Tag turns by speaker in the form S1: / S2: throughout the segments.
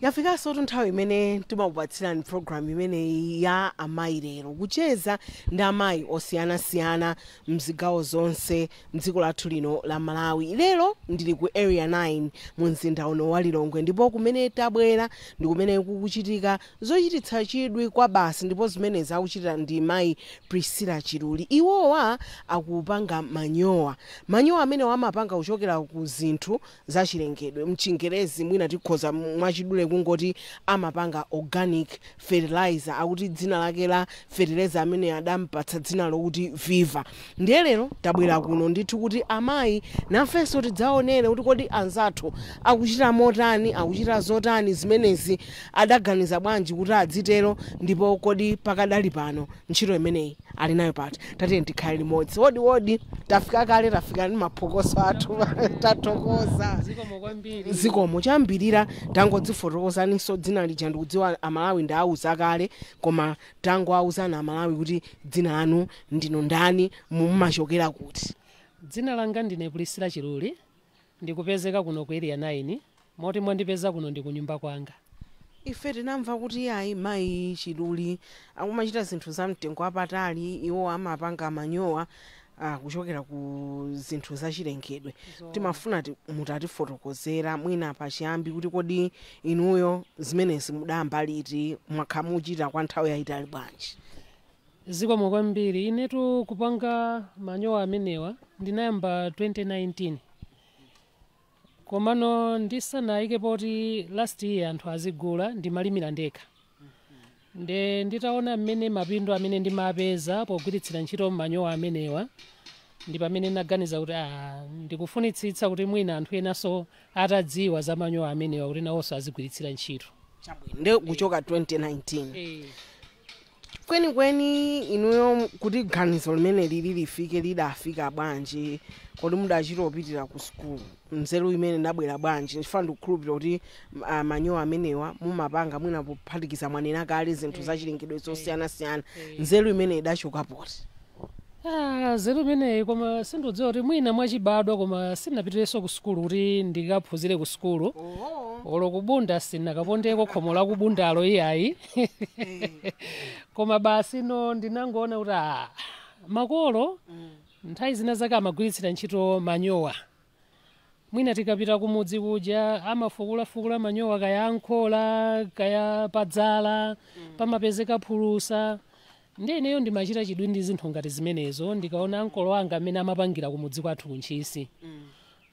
S1: yafikansotu nthawi imene timakupatsirani programu imeneyi ya amayi lero kucheza ndi amayi osiyanasiyana mzigawo zonse mdziko lathu lino la malawi lero ndili ku area 9 mu mzinda uno wa lilongwe ndipo kumene tabwera ndi kumene kukuchitika Zochititsa chidwi kwabasi ndipo zimenezi akuchita ndi mayi Priscilla Chiluli. Iwowa akupanga manyowa. Manyowa amenewa amapanga kuchokera ku zinthu za chilengedwe. Mchingerezi mwina tikhoza mwachidule kungoti amapanga organic fertilizer. Akuti dzina lake la fetereza ameneyu adampatsa dzina lokuti Viva. Ndiye lero tabwera kuno ndithu kuti amayi nafenso tidzaonere kuti kodi anzathu akuchita motani, akuchita zotani, zimenezi adaganiza bwanji kuti adzitero ndipo kodi pakadali pano ntchito imeneyi ali nayo pati? Tatiyeni tikhale limodzi. Wodi wodi! Tafika kale, tafika ndi maphokoso athu. Tathokoza. Zikomo kwambiri. Zikomo. Choyambirira tangodzifotokozaninso dzina lija ndikudziwa Amalawi ndawauza kale koma Tangowauzani Amalawi kuti dzina lanu ndinu ndani, mumachokera kuti? Dzina langa
S2: ndine Priscilla Chiluli, ndikupezeka kuno ku Area 9, moti mwandipeza kuno ndi kunyumba kwanga. Ife
S1: tinamva kuti iyayi mayi Chiluli akumachita zinthu za mtengo wapatali, iwo amapanga manyowa ah, kuchokera ku zinthu zachilengedwe Zoona. timafuna ti- mutatifotokozera mwina pachiyambi kuti kodi inuyo zimenezi mudayamba liti mwakhala mukuchita kwa nthawi yayitali bwanji
S2: zikomo kwambiri inetu kupanga manyowa amenewa ndinayamba 2019 komano ndisanaike poti ndiyambe anthu azigula ndimalimira ndekha nde nditaona mmene mapindu amene ndimapeza pogwiritsira ntchito manyowa amenewa ndi pamene naganiza kuti ah, ndikufunitsitsa kuti mwina anthu enanso atadziwa za manyowa amenewa kuti nawonso azigwiritsira ntchito chabwino nde kuchoka
S1: 2019 Eh, Kwenikweni inuyo kuti ganizo limeneli lifike lidafika bwanji? Kodi mudachita opitira ku school? Nzeru imeneyi idabwera bwanji? Chifukwa ndikukhulupilira kuti manyowa amenewa mumapanga mwina pophatikiza mwanena kale zinthu zachilengedwe zosiyanasiyana. Nzeru imeneyi idachoka pati?
S2: Ah, nzeru imeneyi koma sindikudziwa kuti mwina mwachibadwa koma sinapitirenso ku sukulu kuti ndikaphunzire ku sukulu oh. olo ku Bunda sinakapondeko khomo la ku Bundalo iyayi koma basi no ndinangoona kuti ah, makolo nthawi zina zake amagwiritsira ntchito manyowa mwina tikapita kumudzi kuja amafukulafukula manyowa kaya a m'khola kaya padzala pamapezeka phulusa ndi ineyo ndimachita chidwi ndi zinthu ngati zimenezo ndikaona ankolo anga amene amapangira kumudzi kwathu kuntchisi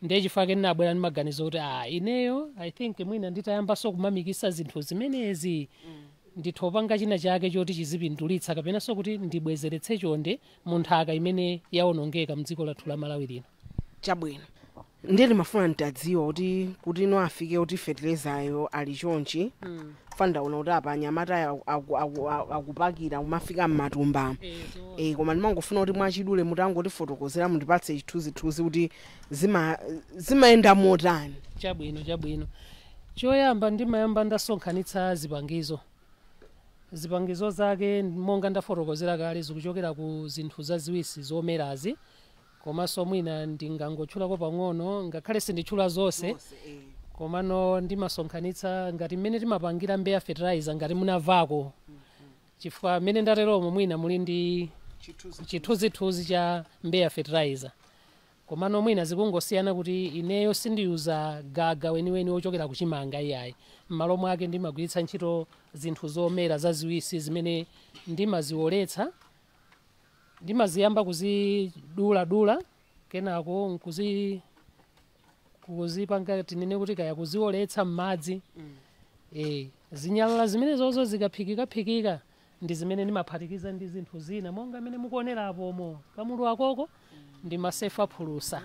S2: ndiye chifukwa chake ndinabwera ndi maganizo kuti ah ineyo i think mwina nditayambanso kumamiksa zinthu zimenezi nditho panga china chake choti chizipindulitsa kapenanso kuti ndibwezeretse chonde mu nthaka imene yawonongeka mdziko lathu la malawi lino
S1: chabwino ndiye ndimafuna nditadziwa kuti kuti inu afike kuti fertilizayo ali chonchi pandaona kuti apa anyamata akupakira kumafika mmatumba e, koma ndimangofuna kuti mwachidule mutangotifotokozera mundipatse chithunzithunzi kuti zimayenda motani chabwino chabwino
S2: choyamba ndimayamba ndasonkhanitsa zipangizo Zipangizo zake monga ndafotokozera kale zikuchokera ku zinthu zaziwisi zomerazi komanso mwina ndingangotchulako pang'ono ngakhale sinditchula zonse komano ndimasonkhanitsa ngati mmene timapangira mbeya fertilizer ngati munamvako chifukwa mmene ndateromo mwina muli ndi chithunzithunzi cha mbeya fertilizer Komano mwina zikungosiyana kuti ineyo sindiyuza gaga weniweni wochokera kuchimanga iyayi, m'malo mwake ndimagwiritsa ntchito zinthu zomera zaziwisi zimene ndimaziwoletsa, ndimaziyamba kuziduladula kenako nkuzi kuzipanga tinene kuti kaya kuziwoletsa m'madzi, eh, zinyalala zimenezo zikaphikikaphikika ndi zimene ndimaphatikiza ndi zinthu zina monga mmene mukuonera apomo kamulu akoko ndimasefa phulusa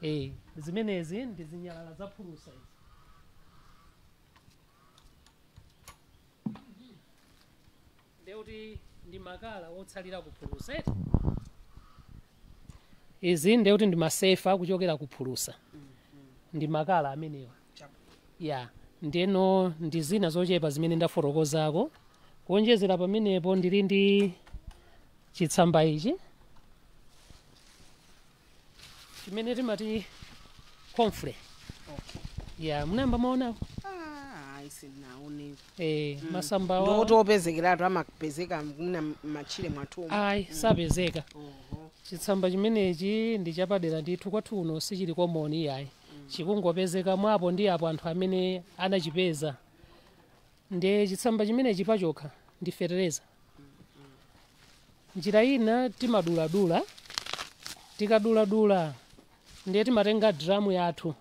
S2: eh zimenezi ndi zinyalala za phulusa izi ndiye kuti ndi makala otsalira ku phulusa eti izi ndiye kuti ndimasefa kuchokera ku phulusa ndi makala amenewa ya ndeno ndi zina zochepa zimene ndafotokozako kuonjezera pamenepo ndili ndi chitsamba ichi chimene timati comfrey ya munayamba mwaonako eh, masamba awa- ndiwoti
S1: opezekeratu amapezeka m'matchire mwathumu sapezeka
S2: chitsamba chimenechi ndi chapadera ndithu kwathu kuno sichili common iyayi chikungopezeka mwa apo ndi apo anthu amene anachipeza nde chitsamba chimenechi pachokha ndi fetereza njira ina timaduladula tikaduladula ndiye timatenga dramu yathu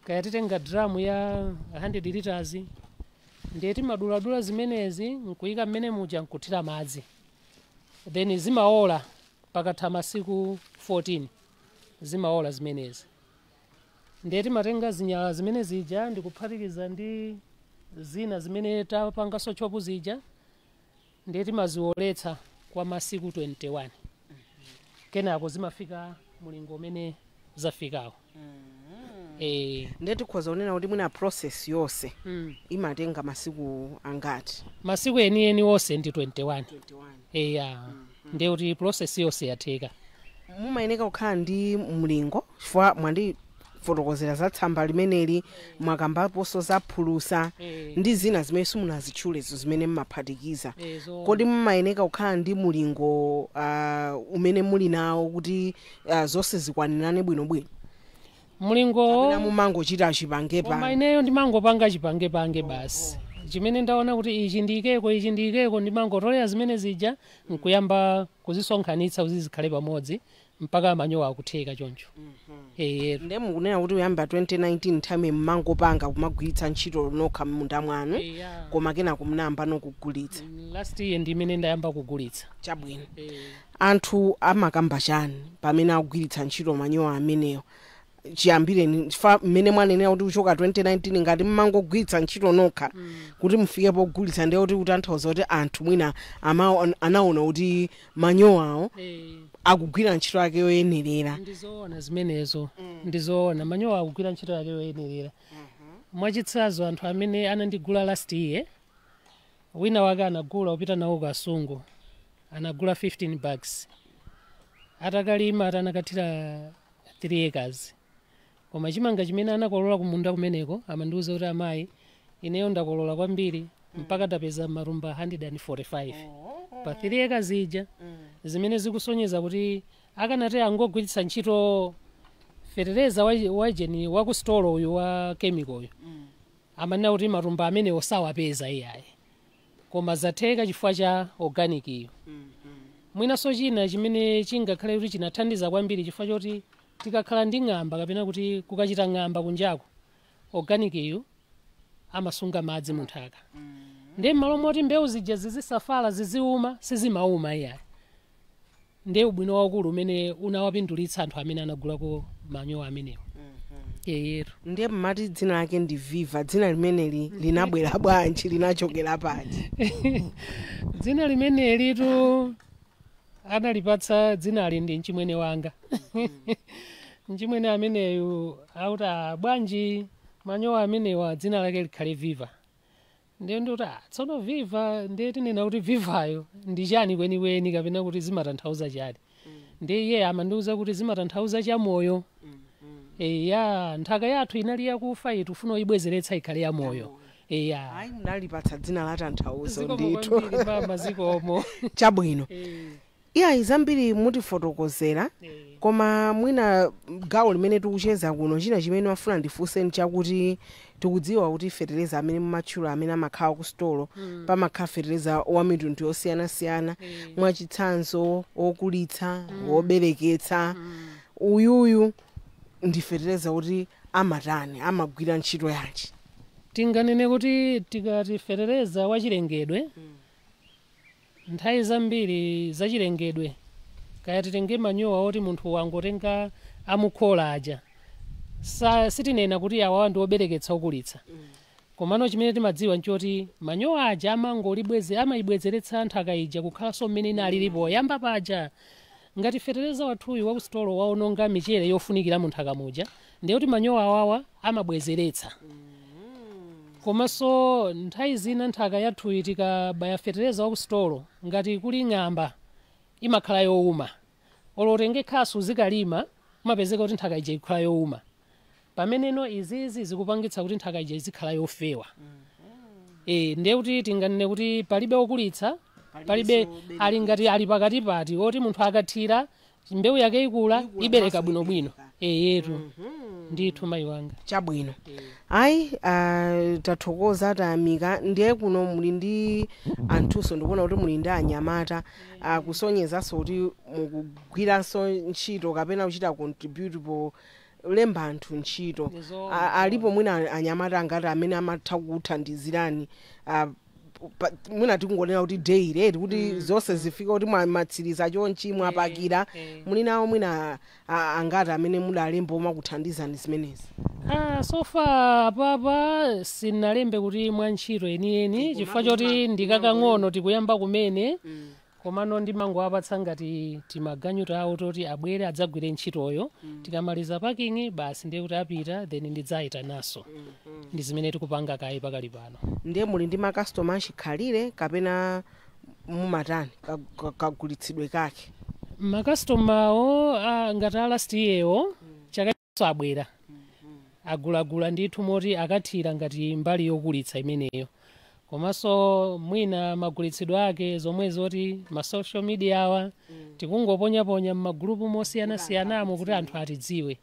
S2: kaya titenga dramu ya 100 liters ndiye timaduladula zimenezi nkuyika mmenemuja nkuthira madzi then zimaola pakatha masiku 14 zimaola zimenezi ndiye timatenga zinyalala zimene zija ndikuphatikiza ndi zina zimene tapanganso chop zija ndiye timazioletsa kwa masiku 21 kenako zimafika mulingo umene
S1: zafikawo eh, ndiye tikhoza kunena kuti mwina process yonse mm. imatenga masiku angati masiku enieni onse ndi
S2: 21 21 eya ndiye kuti process yonse yatheka
S1: mumayeneka kukhala ndi mulingo chifukwa mwandifotokozera za tsamba limeneli mwakambaponso za phulusa Eh. ndi zina zimene simunazitchulezo zimene mumaphatikiza Eh, zo- kodi mumayeneka kukhala ndi mulingo uh, umene muli nawo kuti uh, zonse zikwanirane bwinobwino
S2: mlingowo kapena
S1: mumangochita achipangepa koma ineyo
S2: ndimangopanga chipangepange basi chimene ndaona kuti ichi ndiyikeko ichi ndiyikeko ndimangotolera zimene zija nkuyamba kuzisonkhanitsa kuti zikhale pamodzi mpaka manyowa akutheka choncho eyetu
S1: nde mukunena kuti kuyamba 2019 nthawi mmangopanga kumagwiritsa ntchito nokha m'munda mwanu Eya. koma kenako munayamba nokugulitsa last year ndi
S2: mmene ndayamba kugulitsa chabwino
S1: Anthu amakamba chani pamene akugwiritsa ntchito manyowa amenewa chiyambireni chifukwa mmene mwanenera kuti kuchoka 2019 ngati mmangogwiritsa ntchito nokha kuti mufike pogulitsa ndiye kuti kutanthauza kuti anthu mwina amaon- anaona kuti manyowawo akugwira ntchito yake yoyenerera ndizoona zimenezo
S2: ndizoona manyowa akugwira ntchito yake yoyenerera mwachitsanzo anthu amene anandigula last year wina wake anagula upita nawo Kasungu anagula 15 bags atakalima ati anakathira 3 acres koma chimanga chimene anakolola kumunda kumeneko amandiuza kuti amayi ineyo ndakolola kwambiri mpaka ndapeza matumba 145 pa 3 acres ija zimene zikusonyeza kuti akanati angogwiritsa ntchito fetereza wa- wajeni wakusitolo uyu wa kemiko uyu Amanena kuti matumba amenewo sawapeza iyayi koma zatheka chifukwa cha organic-yu. Mwinanso china chimene chingakhale kuti chinathandiza kwambiri chifukwa choti tikakhala ndi ng'amba kapena kuti kukachita ng'amba kunjaku, organic-yu amasunga madzi munthaka. Ndiye m'malo moti mbewu zija zizisafala, ziziuma, sizimauma iyayi. ndiye ubwino waukulu umene unawapindulitsa anthu amene anagulako manyowa amenewa eyetu
S1: ndiye mmati dzina lake ndi viva dzina limeneli linabwera bwanji linachokera pati
S2: dzina limenelitu analipatsa dzinali ndi mchimwene wanga mchimwene ameneyu akuti "Ah, bwanji manyowa amenewa dzina lake likhale viva ndiye ndikuti ah, tsono viva ndiye tinena kuti vivayo ndi chani kwenikweni kapena kuti zimatanthauza chani ndiye iye amandiuza kuti zimatanthauza chamoyo eya nthaka yathu inali yakufa iyi tifuna kuyibwezeretsa ikhale yamoyo eya
S1: ayi munalipatsa dzina la tanthauzo zikomo ndithu kwambiri mama zikomo
S2: chabwino
S1: Eh. Iyayi zambiri mutifotokozera koma mwina gawo limene tikucheza kuno china chimene ndimafuna ndifunse nchakuti tikudziwa kuti fetereza amene mumatchula amene amakhala kusitolo pamakhala fetereza wamitundu yosiyanasiyana mwachitsanzo wokulitsa wobereketsa uyuyu ndi fetereza kuti amatani amagwira ntchito yanji tinganene
S2: kuti tikati fetereza wachilengedwe Nthawi zambiri zachilengedwe, kaya titenge manyowa oti munthu wangotenga a mu khola aja, sa, sitinena kuti awawa ndi obereketsa okulitsa. Komano chimene timadziwa n'choti manyowa aja amangolibweze, amaibwezeretsa nthaka ija kukhalanso mmene inalili poyamba paja. Ngati fetereza wathuyu wa kusitolo waononga michere yofunikira mu nthaka muja, ndiye kuti manyowa awawa amabwezeretsa. Komanso nthawi zina nthaka yathuyi tikabaya fetereza wa kusitolo, ngati kuli ng'amba imakhala youma. Olo utenge khasu uzikalima, umapezeka kuti nthaka ija ikukhala youma. pameneno izizi zikupangitsa kuti nthaka ija izikhala yofewa e, ndiye kuti tinganene kuti palibe okulitsa palibe zobereka. ali ngati ali pakati pati oti munthu akathira mbewu yake ikula Ikula ibereka bwinobwino ibereka. eyetu ndithu mayi wanga
S1: chabwino ayi ah, tathokoza tayamika ndiye kuno muli ndi anthunso ndikuona kuti muli ndi anyamata ah, kusonyezanso kuti mukugwiranso ntchito kapena kuchita contribute po lemba anthu ntchito Ndi zoona, A- zoona. alipo mwina anyamata angati amene amatha kuthandizirani ah, pa- mwina tikungonena kuti daily eti kuti zonse zifika kuti mwa- mwatsiriza chonchi mwapakira eh. muli nawo mwina ah, angati amene mudalemba omakuthandizani zimenezi Ah, so
S2: far apapa sinalembe kuti mwa ntchito yeniyeni chifukwa choti ndikakang'ono tikuyamba kumene komano ndimangowapatsa ngati timaganyu tawo toti abwere adzagwire ntchitoyo tikamaliza packing basi ndiye kuti apita then ndidzayitananso ndi zimene tikupanga kaye pakali pano ndiye muli
S1: ndi makastoma achikhalire kapena mumatani ka- ka- kagulitsidwe kake makasitomawo
S2: ngati a last yearwo chaka nawonso abwera agulagula ndithu moti akathira ngati mbali yokulitsa imeneyo komanso mwina magulitsidwe ake zomwe zoti ma social media awa tikungoponyaponya m'magulupu mosiyanasiyanamo kuti anthu atidziwe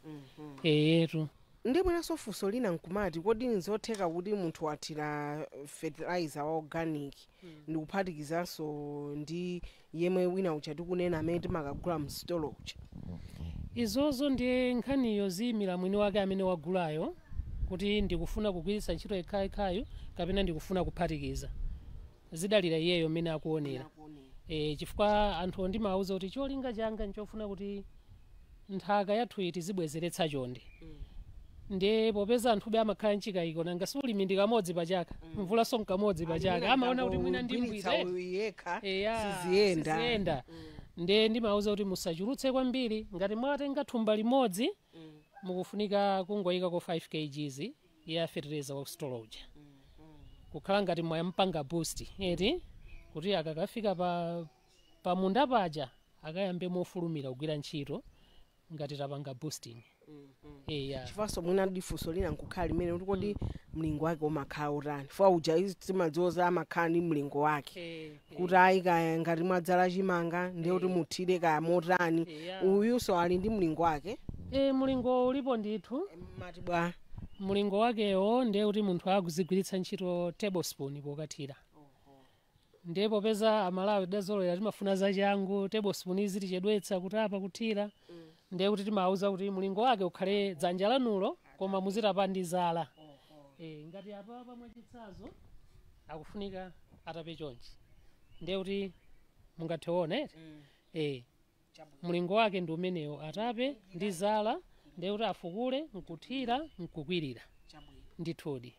S2: eyetu ndiye
S1: mwinanso funso lina nkumati kodi nzotheka kuti munthu wathira fertilizer wa organic ndikuphatikizanso ndi yemwe wina uja tikunena amene timakagula msitolo uja izozo
S2: ndiye nkhaniyo ziimira mwini wake amene wagulayo kuti ndikufuna kugwiritsa ntchito yekhayekhayu kapena ndikufuna kuphatikiza zidalira iyeyo mmene akuonera e, chifukwa anthuwo ndimawauza kuti cholinga changa nchofuna kuti nthaka yathuyi tizibwezeretsa chonde ndiye popeza anthube amakhala mchikayiko nanga si ulimi ndi kamodzi pa chaka mvulanso nkamodzi pa chaka amaona kuti mwina ndi mbwiza eti. uyu yekha Eya, siziyenda siziyenda. ndiye ndimauza kuti musachulutse kwambiri ngati mwatenga thumba limodzi mukufunika kungoyikako 5 kgs ya fertilizer wa sitolo uja kukhala ngati mwaipanga boost eti kuti akakafika pa pamunda paja akayambe mofulumira kugwira ntchito ngati tapanga boosting
S1: eya chifanso mwina ndi funso lina nkukhala limene kuti kodi mlingo wake umakhala utani fetereza uja izi timadziwazi amakhala ndi mlingo wake Eh, eh. kuti ayi kaya ngati mwadzala chimanga ndiye kuti muthire kaya motani Yeah. uyunso ali ndi mlingo wake Eh, mlingo ulipo
S2: ndithu
S1: mlingo wakewo
S2: ndiye kuti munthu akuyenera kugwiritsa ntchito tablespoon pokathira Ndiye popeza amalawi tidazolowera timafuna zachangu, table spoon izitichedwetsa kutapa, kuthira, ndiye kuti timawauza kuti mulingo wake ukhale dzanja lanulo koma muzitapa ndi zala. Eeh ngati apapa mwachitsazo akufunika atape chonchi ndiye kuti mungathe kuona eti? Eeh. Mlingo wake ndi umenewo, atape ndi zala, ndiye kuti afukule n'kuthira n'kukwirira. Ndithudi.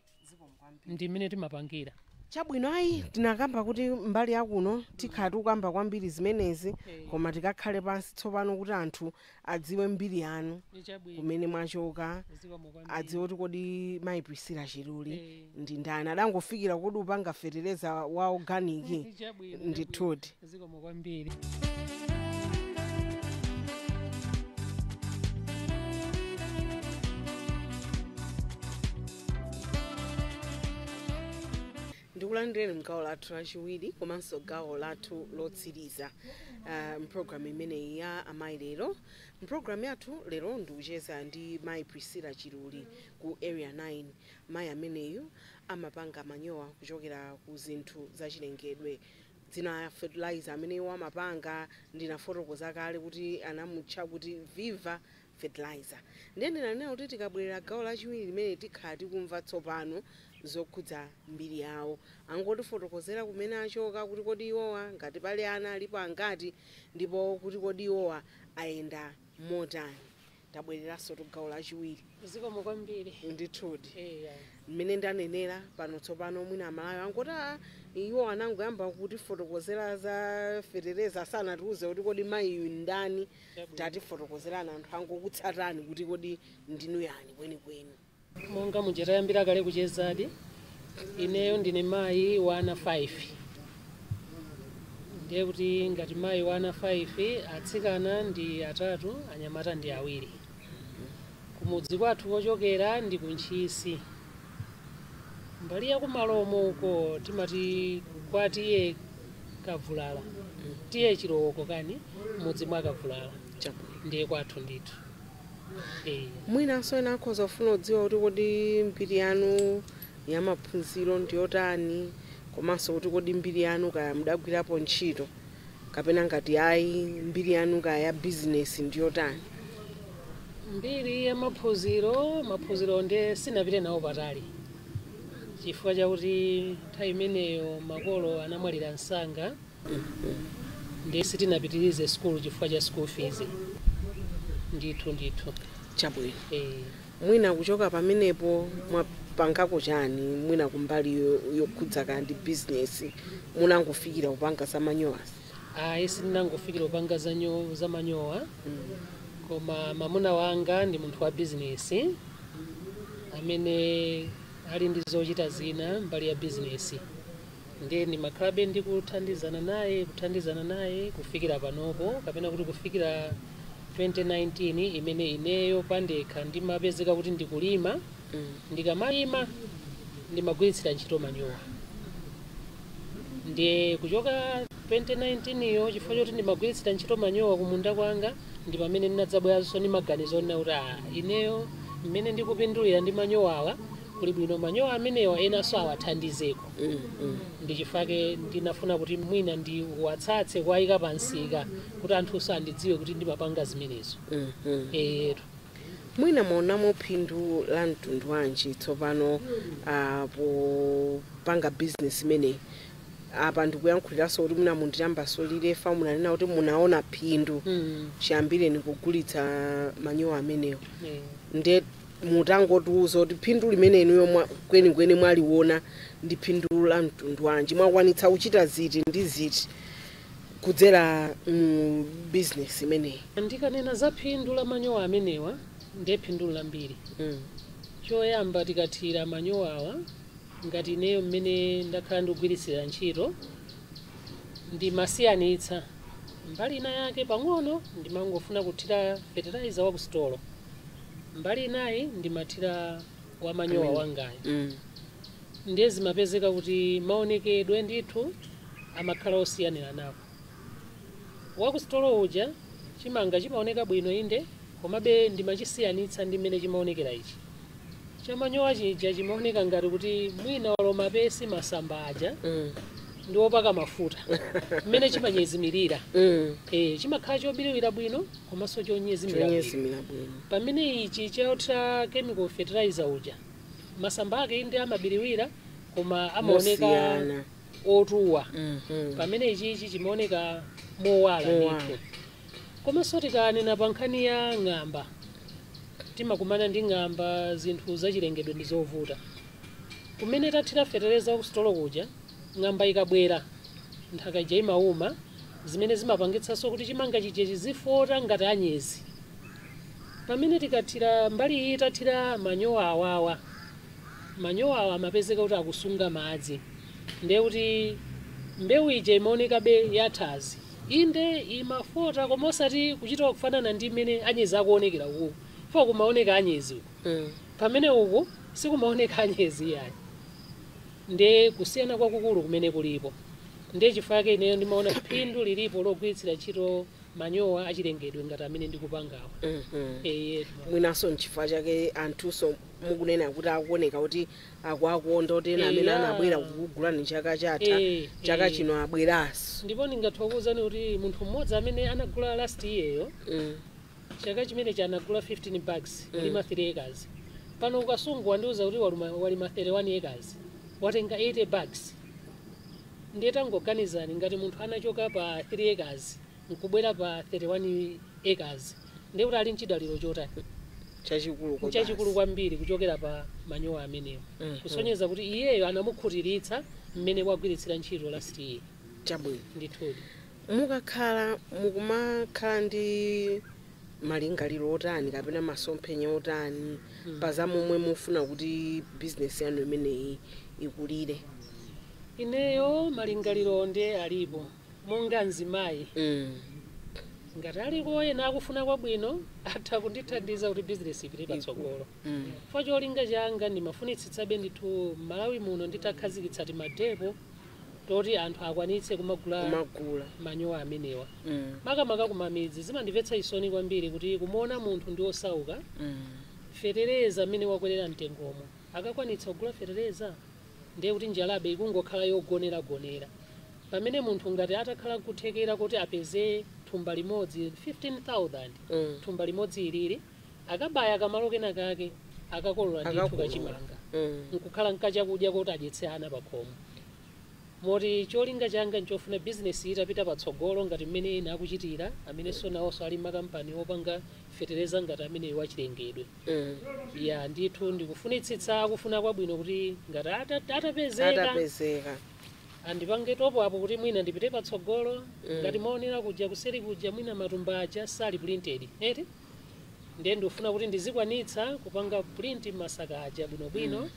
S2: Ndi mmene timapangira. Chabwino, ayi,
S1: tinakamba kuti mbali ya kuno tikhala tikukamba kwambiri zimenezi, koma tikakhale pansi tsopano kuti anthu adziwe mbiri yanu, Chabwino. kumene mwachoka, Zikomo kwambiri. adziwe kuti kodi Mayi Priscilla Chiluli Eh. ndi ndani, adangofikira kodi upanga fetereza wa organic, Chabwino, chabwino. ndithudi. Zikomo kwambiri. ndikulandireni mgawo lathu lachiwiri komanso gawo lathu lotsiriza uh, mpulogalamu imeneyi ya amayi lero mpulogalamu yathu lero ndikucheza ndi mayi priscilla chiluli ku area 9 mayi ameneyu amapanga manyowa kuchokera ku zinthu zachilengedwe Dzina la fertilizer amene iwo amapanga ndinafotokoza kale kuti anamutcha kuti Viva fertilizer. Ndiye ndinanena kuti tikabwelera gawo lachiwiri limene tikhala tikumva tsopano zokhudza mbiri yawo. Angotifotokozera kumene achoka, kuti kodi iwowa ngati pali ana alipo angati ndipo kuti kodi iwowa ayenda motani. Tabwereransotu gawo lachiwiri. Zikomo
S2: kwambiri. Ndithudi.
S1: Eya. Mmene
S2: ndanenera,
S1: pano tsopano mwina Amalawi angoti, Aa! Iwo anangoyamba kutifotokozera za fetereza asanatiuze kuti kodi mayiyu n'ndani. Chabwino. Tatifotokozerani anthu akukutsatani kuti kodi ndinu yani kwenikweni. Monga
S2: muja tayambira kale kuchezadi, ineyo ndine mayi wa ana 5. Ndiye kuti ngati mayi wa ana 5, atsikana ndi atatu, anyamata ndi awiri. Kumudzi kwathu kochokera ndi ku Ntchisi. Mbali ya ku Malomo uko timati kwa T/A Kavulala, T/A Chilowoko kani, m'mudzi mwa Kavulala. Ndiye kwathu ndithu. Mwinanso
S1: ena akhoza kufuna kudziwa kuti kodi mbiri yanu ya maphunziro ndi yotani komanso kuti kodi mbiri yanu kaya mudagwirapo ntchito kapena ngati ayi, mbiri yanu kaya ya bizinesi ndi yotani.
S2: Mbiri ya maphunziro, maphunzirowo ndiye sinapite nawo patali chifukwa chakuti nthawi imeneyo makolo anamwalira msanga. ndiye sitinapitirize sukulu chifukwa cha school fees ndithu ndithu
S1: chabwino eh. mwina kuchoka pamenepo mwapangako chani mwina kumbali yo- yokhudza kaya ndi bizinesi munangofikira kupanga za manyowasi ayi
S2: sindinangofikira kupanga za nyo- za manyowa koma mamuna wanga ndi munthu wa bizinesi amene ali ndi zochita zina mbali ya bizinesi Ndiye ndimakhalabe ndikuthandizana naye, kuthandizana naye kufikira panopo, kapena kuti kufikira 2019 imene ineyo pandekha ndimapezeka kuti ndikulima. Ndikamalima ndimagwiritsira ntchito manyowa. Ndiye kuchoka 2019 yo chifukwa choti ndimagwiritsira ntchito manyowa kumunda kwanga ndi pamene ndinadzabweranso ndi maganizo onena kuti ah, ineyo mmene ndikupindulira ndi manyowawa kuli bwino manyowa amenewa enanso awathandizeko ndi chifukwa chake ndinafuna kuti mwina ndiwatsatse kuwayika pa msika kuti anthunso andidziwe kuti ndimapanga zimenezo eyetu
S1: mwina mwaonamo phindu la mtundu wanji tsopano uh, popanga bizinesi imeneyi apa ndikuyankhuliranso kuti mwina munditambasulire fa munanena kuti munaona phindu Mm. chiyambireni kugulitsa manyowa amenewo Eh. nde Mutangotiuza kuti phindu limene inuyo kwenikweni mwaliona ndi phindu la mtundu wanji? Mwakwanitsa kuchita ziti ndi ziti kudzera mu bizinesi imeneyi? Ndikanena za phindu
S2: la manyowa amenewa ndiye phindu n'lambiri. Choyamba tikathira manyowawa ngati ineyo mmene ndakhala ndikugwiritsira ntchito, ndimasiyanitsa mbali ina yake pang'ono ndimangofuna kuthira fertilizer wa kusitolo. mbali inayi ndimathira wa manyowa wangayo Mm. ndiye zimapezeka kuti maonekedwe ndithu amakhala osiyaniranapo wakusitolo uja chimanga chimaoneka bwino inde komabe ndimachisiyanitsa ndi mmene chimaonekera ichi chamanyowa chija chimaoneka ngati kuti mwina awo mapesi masamba aja Mm. ndi opaka mafuta mmene chimanyezimirira Mm. e, chimakhala chobiriwira bwino komanso chonyezimira bwino chonyezimira bwino pamene ichi chothira chemical fertilizer uja masamba ake inde amabiriwira koma amaoneka otuwa Mhm. pamene ichichi chimaoneka mowala Mowala. ndithu komanso tikanena pa nkhani ya ng'amba timakumana ndi ng'amba zinthu zachilengedwe ndi zovuta kumene tathira fetereza wa kusitolo kuja Ng'amba ikabwera, nthaka ija imauma, zimene zimapangitsanso kuti chimanga chija chizifota ngati anyezi. Pamene tikathira mbali iyi tathira manyowa awawa, manyowa awa amapezeka kuti akusunga madzi ndiye kuti mbewu ija imaonekabe yathazi. Inde, imafota koma osati kuchita kufanana ndi mmene anyezi akuonekera ukuku chifukwa kumaoneka anyezi uku pamene uku sikumaoneka anyezi iyayi. Ndi kusiyana kwakukulu kumene kulipo. Ndiye chifukwa chake ineyo ndimaona phindu lilipo logwiritsira ntchito manyowa achilengedwe ngati amene ndikupangawa. Eyetu.
S1: Mwinanso n'chifukwa chake anthunso mukunena kuti akuoneka kuti akuwakonda kuti ena amene Eya. anabwera kukugulani chaka chatha, Eh, chaka eh. chino abweranso. Ndipo ndingathe kukuuzani
S2: kuti munthu mmodzi amene anagula last year'yo Mm. Chaka chimenechi anagula 15 bags kulima 3 acres. Pano ku Kasungu wandiuza kuti walima 31 acres. Watenga 80 bags. Ndiye tangoganizani ngati munthu anachoka pa 3 acres nkubwera pa 31 acres. Ndiye kuti ali nchidaliro chotani? Nchachikulu kwambiri kuchokera pa manyowa amenewo. Mhm. Kusonyeza kuti iyeyo anamukhutiritsa mmene wagwiritsira ntchito last year. Chabwino. Ndithudi. Mukakhala
S1: mukumakhala ndi malingaliro otani kapena masomphenya otani pa za momwe mufuna kuti bizinesi yanu imeneyi ikulire?
S2: Ineyo malingaliro nde alipo monga mzimayi ngati aliko ena akufuna kwabwino atha kundithandiza kuti bizinesi ipite patsogolo chifukwa cholinga changa ndimafunitsitsabe ndithu m'Malawi muno nditakhazikitsa timadepo toti anthu akwanitse kumagula manyowa amenewa mm. makamaka kumamidzi zimandimvetsa chisoni kwambiri kuti kumuona munthu ndi osauka mm. fetereza mmene wakwerera mtengomo sakakwanitsa kugula fetereza ndiye kuti njalabe ikungokhala yogoneragonera pamene munthu ngati atakhala kuthekera koti apeze thumba limodzi 15000 mm. thumba limodzi ilili akabaya kamalo kena kake akakolola ndithu Akakolola. kachimanga Mm. nkukhala nkachakudya koti adyetse ana pakhomo moti cholinga changa nchofuna bizinesi itapita patsogolo ngati mmene ena akuchitira amenenso nawonso ali makampani opanga fetereza ngati ameneyo wachilengedwe Mm. ya ndithu ndikufunitsitsa akufuna kwabwino kuti ngati ata- atapezeka atapezeka andipange top up kuti mwina ndipite patsogolo ngati munaonera kuja kuseri kuja mwina matumba aja sali printed eti ndiye ndikufuna kuti ndizikwanitsa kupanga print masaka aja bwinobwino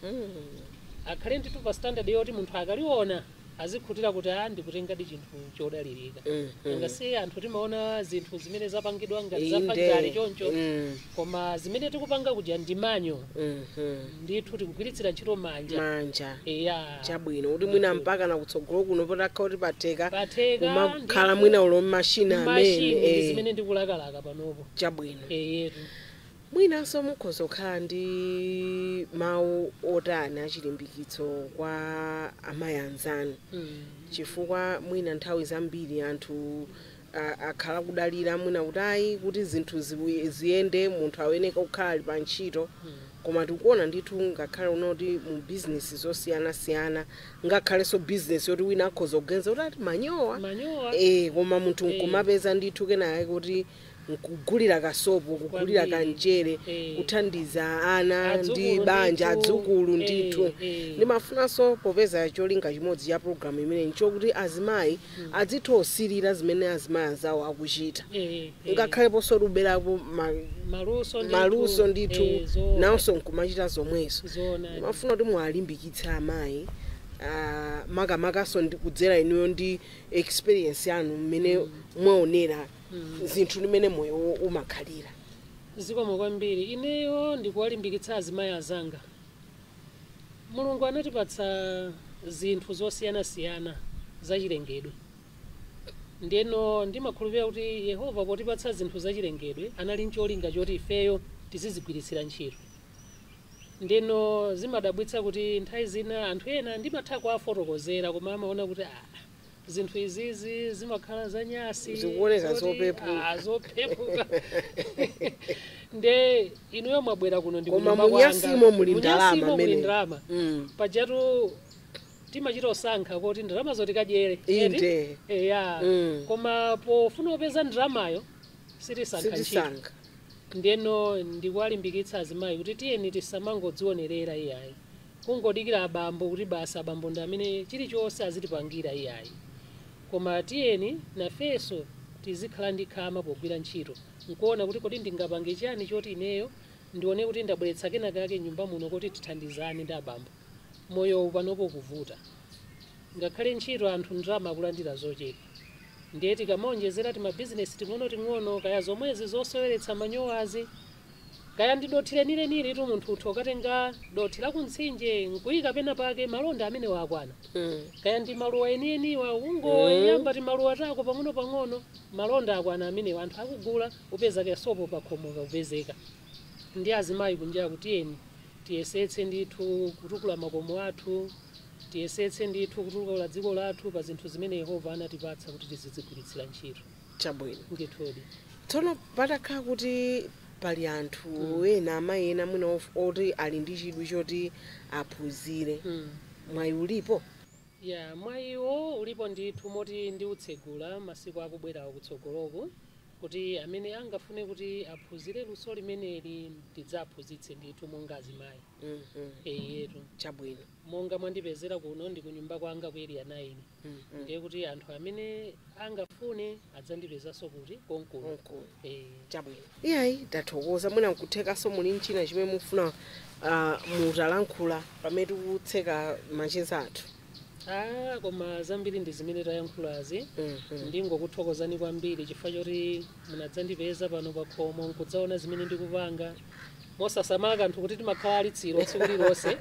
S2: akhale ndithu pa standard yoti munthu akaliona azikhutira kuti a ndikutengadi chinthu chodalirika nanga si anthu timaona zinthu zimene zapangidwa ngati za factory choncho koma zimene tikupanga kuja ndi manual ndithu tikugwiritsira ntchito manja manja eya chabwino kuti mwina mpaka nakutsogolo kuno patakhala kuti patheka patheka kumakhala ndithu mwina ulo mashina mashini ndi amene zimene ndikulakalaka kuchokera panopo. Chabwino. Eyetu.
S1: Mwinanso mukhoza kukhala ndi mawu otani achilimbikitso kwa amayi anzanu chifukwa mwina nthawi zambiri anthu a- akhala kudalira mwina kuti ayi kuti zinthu ziwi- ziyende munthu ayeneka kukhala ali pa ntchito koma tikuona ndithu ngakhale kunoti mu bizinesi zosiyanasiyana ngakhalenso business yoti wina akhoza kuganiza kuti ati manyowa Manyowa. eh koma munthu Eh. nkumapeza ndithu kenakake koti nkugulira kasopo kugulira Kwambiri. kamchere Eh. kuthandiza ana ndi Adzukulu banja ndithu. adzukulu Eh, ndithu eh. ndimafunanso popeza cholinga chimodzi cha programu imeneyi nchokuti azimayi adzitha kusirira zimene azimayi anzawo akuchita Eh, eh. ngakhaleponso kuti kuberapo ma- maluso ndithu. maluso ndithu Eh, zoona. nawonso nkumachita zomwezo Zoona. ndimafuna kuti muwalimbikitse amayi ah, makamakanso kudzera inuyo ndi experience yanu mmene mwaonera zinthu ndi mmene moyo umakhalira zikomo
S2: kwambiri ineyo ndikuwalimbikitsa azimayi azanga Mulungu anatipatsa zinthu zosiyanasiyana zachilengedwe. Ndeno ndimakhulupirira kuti Yehova potipatsa zinthu zachilengedwe anali n'cholinga choti ifeyo tizizigwiritsira ntchito. Ndeno zimadabwitsa kuti nthawi zina anthu ena ndimatha kuwafotokozera koma amaona kuti, Aa! zinthu izizi zimakhala zanyasi Zikuoneka zoti,
S1: zopepuka. ah,
S2: zopepuka nde inuyo mwabwera kuno ndi Koma munyasimo muli
S1: ndalama Munyasimo muli mene. ndalama Mm. pajatu
S2: timachita kusankha koti ndalama zoti kadyere Inde. eya Mm. koma pofuna kupeza ndalamayo sitisankha ntchito Sitisankha. ndeno ndikuwalimbikitsa azimayi kuti tiyeni tisamangodzionerera iyayi kungodikira abambo kuti basi abambo ndi amene chilichonse azitipangira iyayi koma tiyeni nafenso tizikhala ndi khama pogwira ntchito n'kuona kuti kodi ndingapange chiyani choti ineyo ndione kuti ndabweretsa kenakake m'nyumba muno koti tithandizane ndi abambo. Moyowu panopo ukuvuta. Ngakhale ntchito anthu ndalama akulandira zochepa. Ndiye tikamaonjezera timabizinesi ting'onoting'ono kaya zomwezi zoseweretsa manyowazi, Kaya ndi dothi lenilenilitu munthu utha kukatenga dothi la ku mtsinje n'kuika penapake, malonda amenewa akwana. Kaya ndi maluwa enieniwa, ungoyamba timaluwa tako pang'onopang'ono, malonda akwana amenewa. Anthu akugula, upeza kasopo pakhomo kakupezeka. Nde azimayi kunjaku tiyeni tiyesetse ndithu kutukula makomo athu, tiyesetse ndithu kutukula dziko lathu pa zinthu zimene Yehova anatipatsa kuti tizizigwiritsira ntchito. Chabwino.
S1: Ndithudi.
S2: Tsono
S1: patakhala kuti pali anthu Mm. ena, amayi ena mwina of- oti ali ndi chidwi choti aphunzire, Mm. mwayi ulipo? Ya,
S2: mwayiwo ulipo ndithu moti ndiutsegula masiku akubwerawa kutsogoloku kuti amene angafune kuti aphunzire luso limeneli tidzaphunzitse ndithu monga azimayi. Mhm. Eyetu. Chabwino.
S1: Monga mwandipezera
S2: kuno ndi kunyumba kwanga ku Area 9. ndiye kuti anthu amene angafune adzandipezanso kuti konkuno Konkuno. Eh, chabwino
S1: iyayi tathokoza mwina nkuthekanso muli nchina chimene mufuna ah, mutalankhula pamene tikutseka macheza athu ah, koma
S2: zambiri ndi zimene tayankhulazi Mhm. ndingokuthokozani kwambiri chifukwa choti munadzandipeza pano pakhomo nkudzaona zimene ndikupanga mosasamala kanthu kuti timakhala alitsiro tsiku lilonse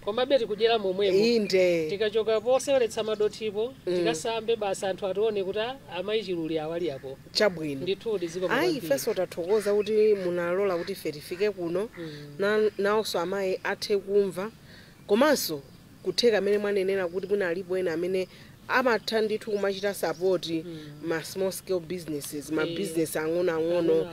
S2: komabe tikudyera momwemo inde tikachoka
S1: poseweretsa
S2: madothipo tikasambe basi anthu atione kuti "Ah, amayi chiluli awo ali apo chabwino
S1: ndithudi zikomo
S2: ayi ifenso
S1: tathokoza kuti munalola kuti ife tifike kuno Na- nawonso amayi athe kumva Komanso kutheka mmene mwanenera kuti mwina alipo ena amene amatha ndithu kumachita support ma small scale businesses, ma business ang'onoang'ono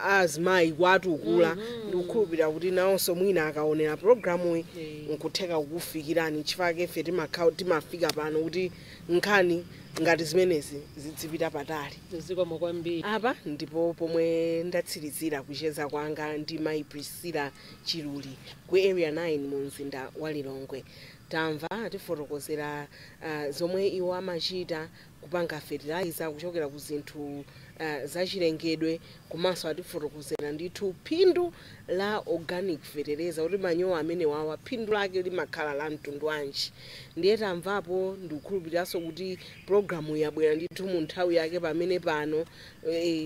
S1: azimayi kuwatukula ndikukhulupirira kuti nawonso mwina akaonera programuyi nkutheka kukufikirani chifukwa ife timafika pano kuti nkhani ngati zimenezi zidzipita patali zikomo kwambiri
S2: apa ndipo
S1: pomwe ndatsirizira kucheza kwanga ndi mayi priscilla Chiluli ku Area 9 mu mzinda wa Lilongwe. Tamva atifotokozera zomwe iwo amachita kupanga fertilizer kuchokera ku zinthu zachilengedwe komanso atifotokozera ndithu phindu la organic fetereza kuti manyowa amenewawa phindu lake limakhala la mtundu wanji. Ndiye tamvapo ndikukhulupiriranso kuti programu yabwera ndithu mu nthawi yake pamene pano.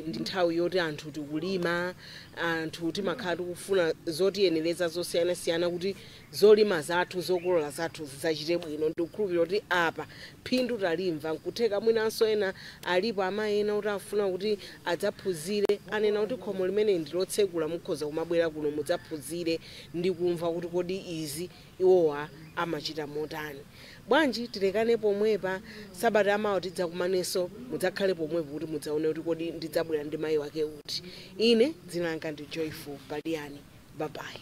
S1: Ndi nthawi yoti anthu tikulima, anthu timakhala tikufuna zotiyenereza zosiyanasiyana kuti zolima zathu, zokolola zathu zidzachite bwino. Ndikukhulupirira kuti apa phindu talimva. N'kutheka mwinanso ena alipo amayi ena oti afuna kuti adzaphunzire, anena kuti khomo limene ndi lotsekula, mukhoza kumabwera kuno mudzaphunzire ndi kumva kuti kodi izi, iwowa amachita motani. Bwanji tilekane pomwepa, sabata yamawa tidzakumanenso, mudzakhale pomwepo kuti mudzaone kuti kodi ndidzabwera ndi mayi wake uti. Ine dzina langa ndi Joyful Paliani. Babayi.